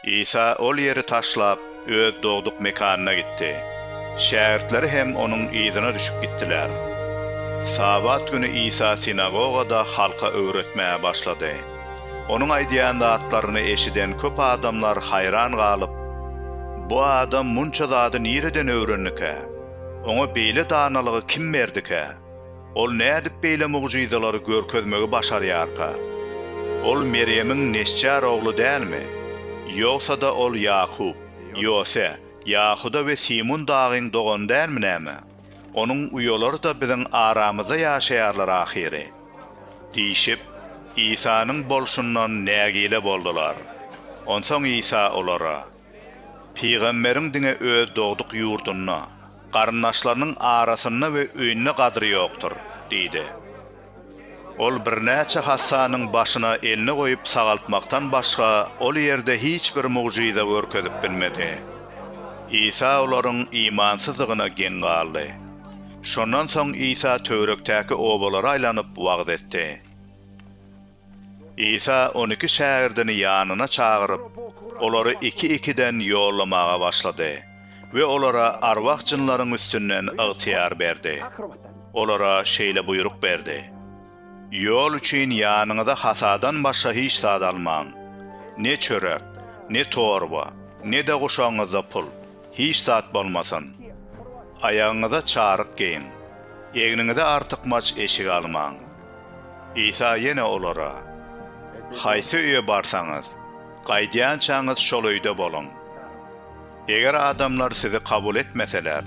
Isa ol ýeri taşlap, öz dogduk mekanyna gitdi. Şägirtleri hem onuň yzyna düşüp gitdiler. Sabat güni Isa sinagogada halka öwretmäge başlady. Onuň aýdýan zatlaryny eşiden köp adamlar haýran galyp, Bu adam munça zady nireden öwrendikä? Oňa beýle danalygy kim berdikä? Ol nädip beýle mugjyzalary görkezmegi başarýarka? Ol Merýemiň nesçär ogly dälmi? Ýogsa-da ol Ýakup, Ýose, Ýahuda we Simun dagyň dogany dälmi näme? Onuň uýalary-da biziň aramyzda ýaşaýarlar ahyry. Diýşip, Isanyň bolşundan nägile boldular. Onsoň Isa olara. Pygamberiň diňe öz dogduk ýurdunda, garyndaşlarynyň arasynda we öýünde gadyry ýokdur diýdi. Ol birnäçe hassanyň başyna elini goýup sagaltmakdan başga ol ýerde hiç bir mugjyza görkezip bilmedi. Isa olaryň imansyzdygyna geň galdy. Şondan soň Isa töwerekdäki obalara aýlanyp wagyz etdi. Isa on iki şägirdini ýanyna çagyryp, olary iki-ikiden ýollamaga başlady we olara arwah jynlaryň üstünden ygtyýar berdi. Olara şeýle buýruk berdi, Ýol üçin ýanyňyza hasadan başga hiç zat almaň. Ne çörek, ne torba, ne-de guşagyňyzda pul, hiç zat bolmasyn. Aýagyňyza çaryk geýiň. Egniňize artykmaç eşik almaň. Isa ýene olara, Haýsy öýe barsaňyz, gaýdýançaňyz şol öýde boluň. Eger adamlar sizi kabul etmeseler,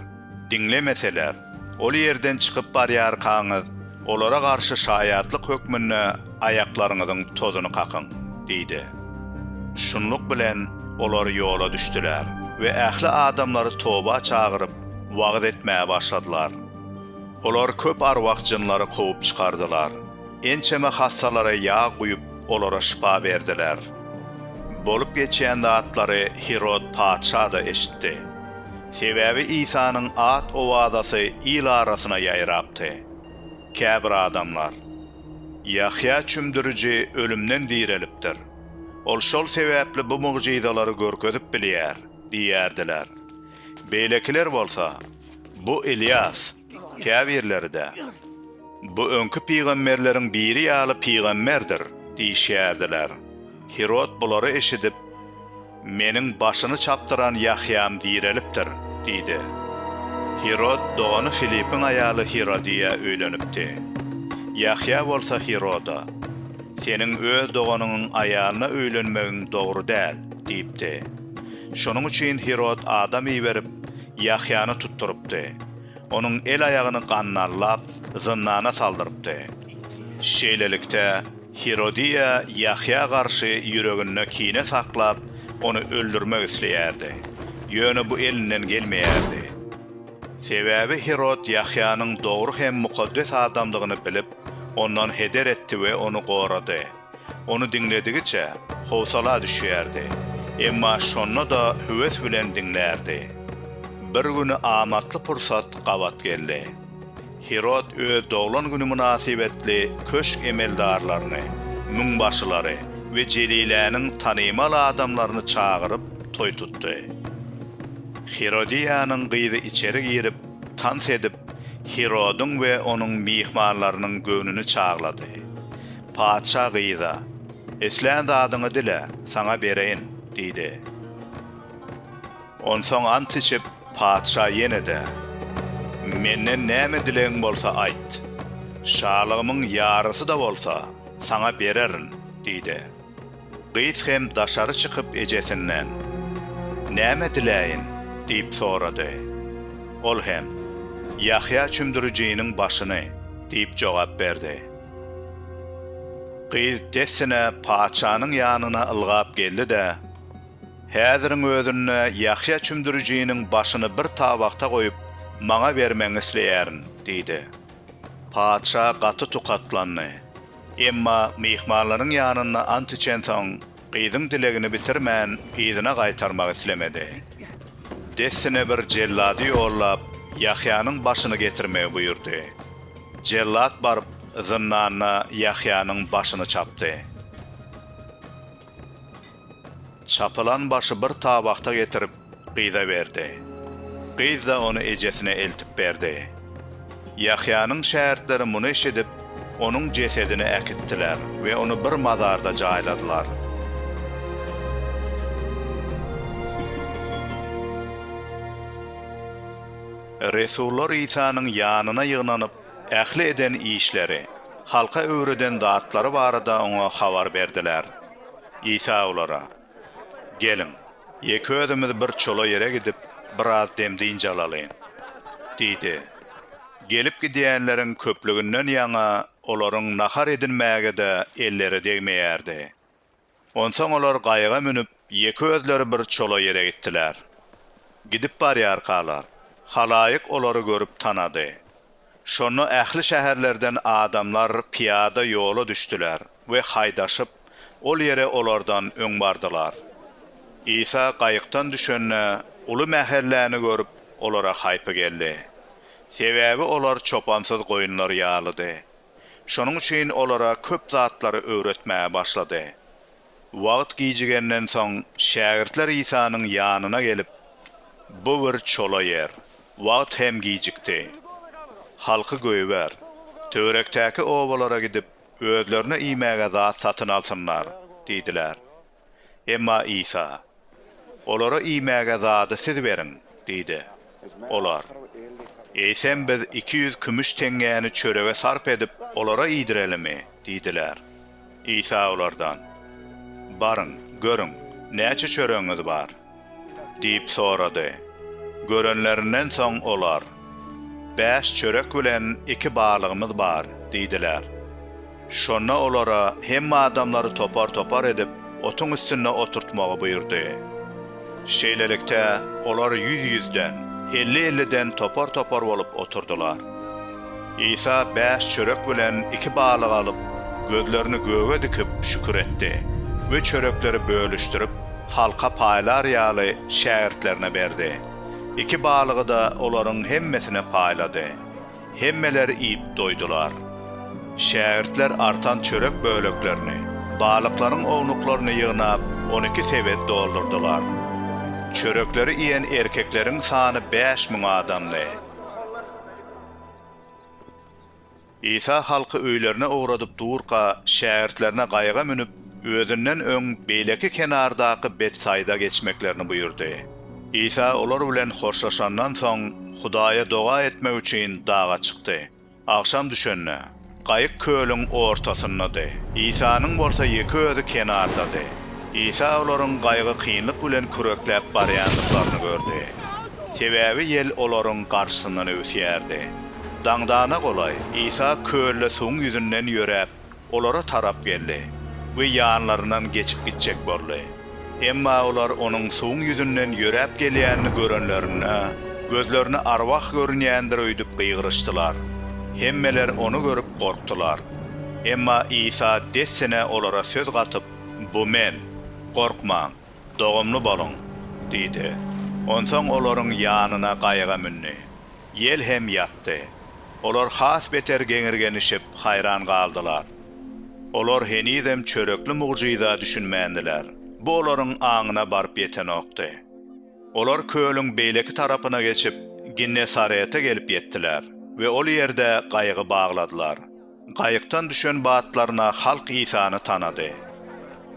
diňlemeseler, ol ýerden çykyp barýarkaňyz, olara garşy şaýatlyk hökmünde aýaklaryňyzyň tozuny kakyň diýdi. Şunluk bilen, olar ýola düşdüler we ähli adamlary toba çagyryp, wagyz etmäge başladylar. Olar köp arwah-jynlary kowup çykardylar. Ençeme hassalara ýag guýup, olara şypa berdiler. Bolup geçen zatlary Hirod patyşa-da eşitdi. Sebäbi Isanyň at-owazasy il arasyna ýaýrapdy. Käbir adamlar, Ýahýa çümdüriji ölümden direlipdir. Ol şol sebäpli bu mugjyzalary görkezip bilýär diýýärdiler. Beýlekiler bolsa. Bu Ylýas, käbirleri-de, Bu öňki pygamberleriň biri ýaly pygamberdir diýişýärdiler. Hirod bulary eşidip, Meniň başyny çapdyran Ýahýam direlipdir diýdi. Hirod dogany Filipiň aýaly Hirodiýa öýlenipdi. Ýahýa bolsa Hiroda, Seniň öz doganyňyň aýalyna öýlenmegiň dogry däl diýipdi. Şonuň üçin Hirod adam iberip, Ýahýany tutdurypdy. Onuň el-aýagyny gannallap, zyndana saldyrypdy. Şeýlelikde, Hirodiýa Ýahýa garşy ýüreginde kine saklap, ony öldürmek isleýärdi. Ýöne bu elinden gelmeýärdi. Sebäbi Hirod Ýahýanyň dogry hem mukaddes adamdygyny bilip, ondan heder etdi we ony gorady. Ony diňledigiçe, howsala düşýärdi. Emma şonda-da höwes bilen diňlärdi. Bir güni amatly pursat gabat geldi. Hirod öz doglan güni mynasybetli köşk emeldarlaryny, müňbaşylary we Jeliläniň tanymal adamlaryny çagyryp, toý tutdy. Hirodiýanyň gyzy içeri girip, tans edip, Hirodyň we onuň myhmanlarynyň göwnüni çaglady. Patyşa gyza, Islän zadyňy dile, saňa bereýin, diýdi. Onsoň ant içip, patyşa ýene-de, Menden näme dilegiň bolsa aýt. Şalygymyň ýarysy-da bolsa, saňa bererin, diýdi. Gyz hem daşary çykyp ejesinden, Näme diläýin? diýip sorady. Ol hem, Ýahýa Çümdürijiniň başyny diýip jogap berdi. Gyz dessine patyşanyň ýanyna ylgap geldi-de, Häziriň özünde Ýahýa Çümdürijiniň başyny bir tabakda goýup, maňa bermegiňi isleýärin diýdi. Patyşa gaty tukatlandy. Emma myhmanlaryň ýanynda ant içensoň, gyzyň dilegini bitirmän, yzyna gaýtarmak islemedi. Dessine bir jellady ýollap, Ýahýanyň başyny getirmegi buýurdy. Jellat baryp, zyndanda Ýahýanyň başyny çapdy. Çapylan başy bir tabakda getirip, gyza berdi. Gyz-da ony ejesine eltip berdi. Ýahýanyň şägirtleri muny eşidip, onuň jesedini äkitdiler we ony bir mazarda jaýladylar. Resullar Isanyň ýanyna ýygnanyp, ähli eden işleri, halka öwreden zatlary barada oňa habar berdiler. Isa olara, Geliň, ýeke özümiz bir çola ýere gidip, biraz dem-dynç alalyň! diýdi. Gelip gidýänleriň köplüginden ýaňa olaryň nahar edinmäge-de elleri degmeýärdi. Onsoň olar gaýyga münüp, ýeke özleri bir çola ýere gitdiler. Gidip barýarkalar, halaýyk olary görüp tanady. Şonda ähli şäherlerden adamlar pyýada ýola düşdüler we haýdaşyp, ol ýere olardan öň bardylar. Isa gaýykdan düşende, uly mähelläni görüp, olara haýpy geldi. Sebäbi olar çopansyz goýunlar ýalydy. Şonuň üçin olara köp zatlary öwretmäge başlady. Wagt gijigenden soň, şägirtler Isanyň ýanyna gelip, Bu bir çola ýer. Wagt hem gijikdi. Halky goýber. Töwerekdäki obalara gidip, özlerine iýmäge zat satyn alsynlar diýdiler. Emma Isa, Olara iýmäge zady siz beriň, diýdi. Olar, Eýsem biz iki ýüz kümüş teňňäni çörege sarp edip, olara iýdirelimi? diýdiler. Isa olardan, Baryň, görüň, näçe çöregiňiz bar? diýip sorady. Görenlerinden soň olar, Bäş çörek bilen iki balygymyz bar, diýdiler. Şonda olara hemme adamlary topar-topar edip, otuň üstünde oturtmagy buýurdy. Şeýlelikde, olar ýüz-ýüzden, elli-elliden topar-topar bolup oturdylar. Isa bäş çörek bilen iki balygy alyp, gözlerini göge dikip, şükür etdi we çörekleri bölüşdirip, halka paýlar ýaly, şägirtlerine berdi. Iki balygy-da olaryň hemmesine paýlady. Hemmeler iýip doýdular. Şägirtler artan çörek böleklerini, balyklaryň ownuklaryny ýygnap, on iki sebet doldurdylar. Çörekleri iýen erkekleriň sany bäş müň adamdy. Isa halky öýlerine ugradyp durka, şägirtlerine gaýyga münüp, özünden öň beýleki kenardaky Betsaýda geçmeklerini buýurdy. Isa olar bilen hoşlaşandan soň, Hudaýa doga etmek üçin daga çykdy. Agşam düşende, gaýyk kölüň ortasyndady, Isanyň bolsa ýeke özi kenardady. Isa olaryň gaýygy kynlyk bilen kürekläp barýandyklaryny gördi. Sebäbi ýel olaryň garşysyndan öwüsýärdi. Daňdana golaý Isa kölle suwuň ýüzünden ýöräp, olara tarap geldi we ýanlaryndan geçip gitjek boldy. Emma olar onuň suwuň ýüzünden ýöräp gelýänini görenlerinde, gözlerine arwah görünýändir öýdüp gygyryşdylar. Hemmeler ony görüp gorkdular. Emma Isa dessine olara söz gatyp, Bu Men. Gorkmaň! Dogumly boluň! diýdi. Onsoň olaryň ýanyna gaýyga mündi. Ýel hem ýatdy. Olar has beter geňirgenişip, haýran galdylar. Olar henizem çörekli mugjyza düşünmändiler. Bu olaryň aňyna baryp ýetenokdy. Olar kölüň beýleki tarapyna geçip, Ginnesarete gelip ýetdiler we ol ýerde gaýygy bagladylar. Gaýykdan düşen batlaryna halk Isany tanady.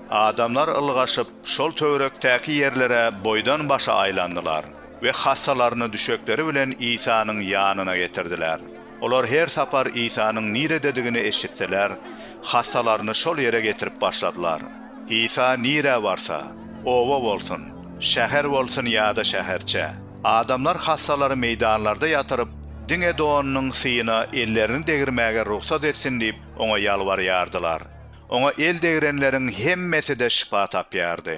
Adamlar ylgaşyp, şol töwerekdäki ýerlere boýdan-başa aýlandylar we hassalaryny düşekleri bilen Isanyň ýanyna getirdiler. Olar her sapar Isanyň nirededigini eşitseler, hassalaryny şol ýere getirip başladylar. Isa nirä barsa, oba bolsun, şäher bolsun ýa-da şäherçe, Adamlar hassalary meýdanlarda ýatyryp, diňe donunyň syýyna ellerini degirmäge rugsat etsin diýip, oňa ýalbarýardylar. Oňa el degrenleriň hemmesi-de şypa tapýardy.